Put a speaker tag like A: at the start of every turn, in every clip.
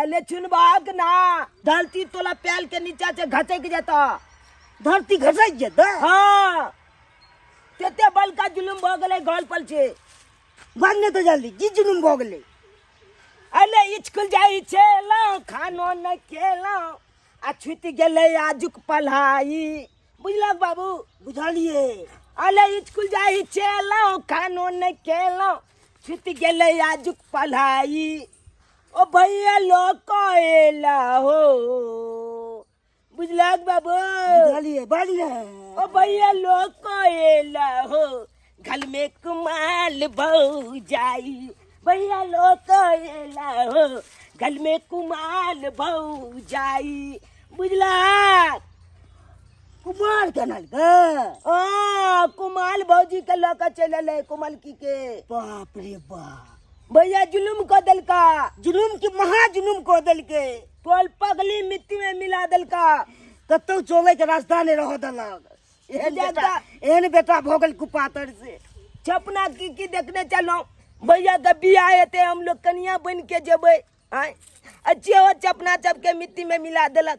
A: अले चुनबाक ना धरती तोला पैल के नीचा से घसक जाता धरती
B: घसक जाता हाँ
A: तेते बल का जुलुम भ गले गल पल से भागने तो
B: जल्दी जी जुलुम भ गले अले
A: इचकुल जाई छेला खानो न खेला आ छुट गेले आजुक पढ़ाई बुझलक बाबू बुझलिए
B: अले
A: इचकुल जाई छेला खानो न खेला छुट गेले आजुक पढ़ाई ओ भैया लोग कहेला हो बुझलक बाबू बुझलिए
B: बढ़िया ओ भैया
A: लोग कहेला हो घर में कुमाल भौ जाई भैया लोग कहेला हो घर में कुमाल भौ जाई बुझलक
B: कुमाल के नल गे हाँ कुमाल
A: भौजी के लऽ कऽ चलि एलै कुमलकी के बाप रे
B: बाप भैया जुलुम
A: कऽ देलका जुलुम के महा
B: जुलुम कऽ देलकै तोल पगली
A: मिट्टी में मिला देलका कतौ चोले
B: के रास्ता नहि रहऽ देलक एहन बेटा ज्यादा- एहन बेटा भऽ गेल कुपातर से छपना की
A: की देखने चलहुँ भैया के बियाह हेतै हम लोग कनिया बनि के जेबै आय अच्छे हो छपना सबके मिट्टी में मिला देलक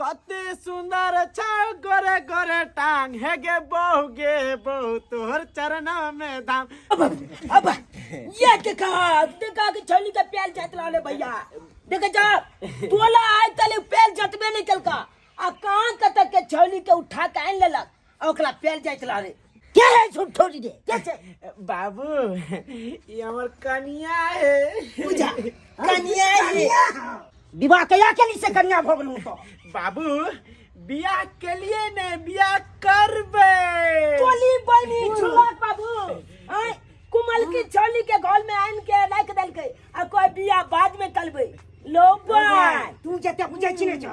C: कते सुंदर छौ गोरे गोरे टांग हे गे बहु गे बहु तोहर चरना में धाम अब
A: ये देखा देखा के छोली के पेल जात लाले भैया देख जा तोला आज तले पेल जतबे नहीं कलका आ कान कतक के छोली के उठा के आन लेलक आ ओकरा पेल जाइत रह रे के है झूठो
B: रे के छै
A: बाबू
C: ई हमर कनिया है पूजा
A: कनिया है विवाह
B: कहिया केली से कनिया भऽ गेलहुँ तो बाबू
C: बियाह के लिए ने बियाह करबे टोली
A: बनी झुलक बाबू आय कुमल की छोली के घर में आन के राख देलकै आ कोई बियाह बाद में करबै लो बाय तू जते बुझै
B: छी ने जो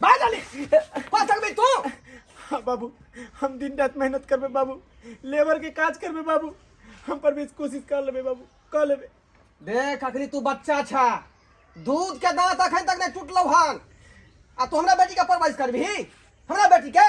C: बाहर जाले कौन सकबे तू हाँ बाबू हम दिन रात मेहनत करबे बाबू लेबर के काज करबे बाबू हम पर भी कोशिश कर लेबे बाबू कर लेबे देख अखनी तू बच्चा छा दूध के दांत अखन तक नहीं टूटलो हन आ तू हमरा बेटी के परवरिश करबी हमरा बेटी के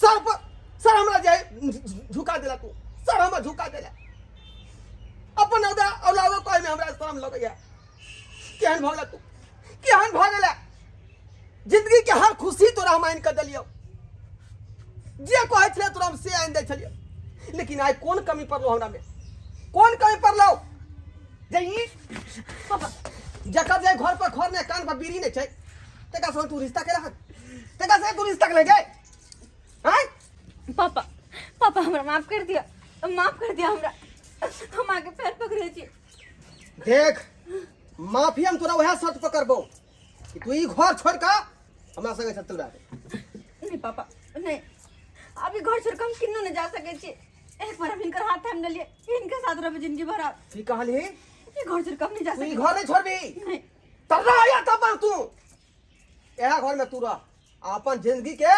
C: सर पर सर हमरा जे झुका देला तू सर हमरा झुका देला अपन औदा औलादो कहे में हमरा शर्म लगैया केहन भगला तू केहन भगला जिंदगी के हर खुशी तोरा हम आइन कर दिलियो जे कहे छले तोरा हम से आइन दे छलियो लेकिन आइ कोन कमी पड़लो हमरा में कोन कमी पड़लो जे ई
D: जकर जे
C: घर पर घर ने कान पर बीड़ी ने छै ते का सो टुरिस्ट टाकेला हात ते का से टुरिस्ट टाकले जे हाय पापा
D: पापा हमरा माफ कर दिया माफ कर दिया हमरा हम आगे पैर पकड़े छी देख
C: माफी हम तोरा वह शर्त पकड़बो कि तू ई घर छोड़ का हमरा संगे चल रहा नहीं पापा
D: नहीं अभी घर छोड़ के हम किन्नो न जा सके छी एक बार हम इनकर हाथ थाम ले लिए इनके साथ रहे जिंदगी भर आप की कहली ई
C: घर छोड़ के
D: हम नहीं जा तू ई सके घर नहीं छोड़बी
C: नहीं तबा
D: या
C: तबा तू एहा घर में तू रह आ अपन जिंदगी के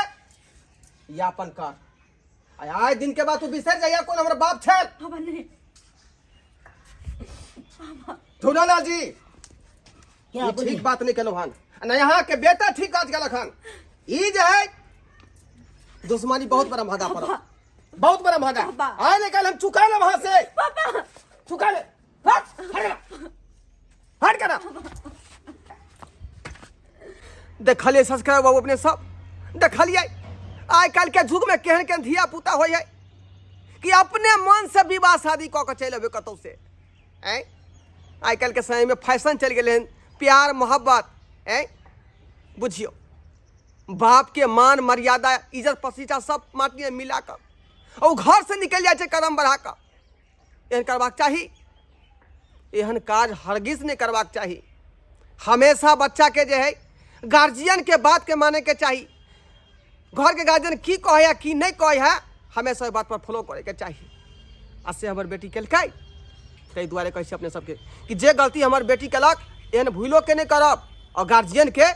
C: यापन कर आ आए दिन के बाद तू बिसर जाइया कौन हमारा बाप छे बाबा नहीं धुनालाल जी
B: क्या ये बोली ठीक बात नहीं
C: कहलो हन आ ना यहाँ के बेटा ठीक काज गलक हन ई जे है दुश्मनी बहुत बड़ा भादा पर बहुत बड़ा भादा बाबा। आए ने कल हम
D: चुका
C: ले वहां से बाबा
D: चुका ले
C: हट करा देखलिए सब्सक्राइब बाबू अपने सब
E: देखलिए आइ काल्हि के युग में केहन केहन धिया पुता होइ है कि अपने मन से विवाह शादी कऽ के चलि अबे कतौ से ऐ आइ काल्हि के समय में फैशन चलि गेलै हन प्यार मोहब्बत ऐ बुझियो बाप के मान मर्यादा इज्जत पसीचा सब माटिए मिला कऽ ओ घर से निकलि जाइ छै कदम बढ़ा कऽ एहन करबाक चाही एहन काज हरगिज नहि करबाक चाही हमेशा बच्चाके जे हइ गार्जियनके बातके मानैके चाही घरके गार्जियन की कहै हइ की नहि कहै हइ हमेशा ओहि बातपर फॉलो करैके चाही आ से हमर बेटी केलकै ताहि दुआरे कहै छी अपने सबके कि जे गलती हमर बेटी केलक एहन भूलो के नहि करब आओर गार्जियनके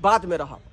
E: बातमे रहब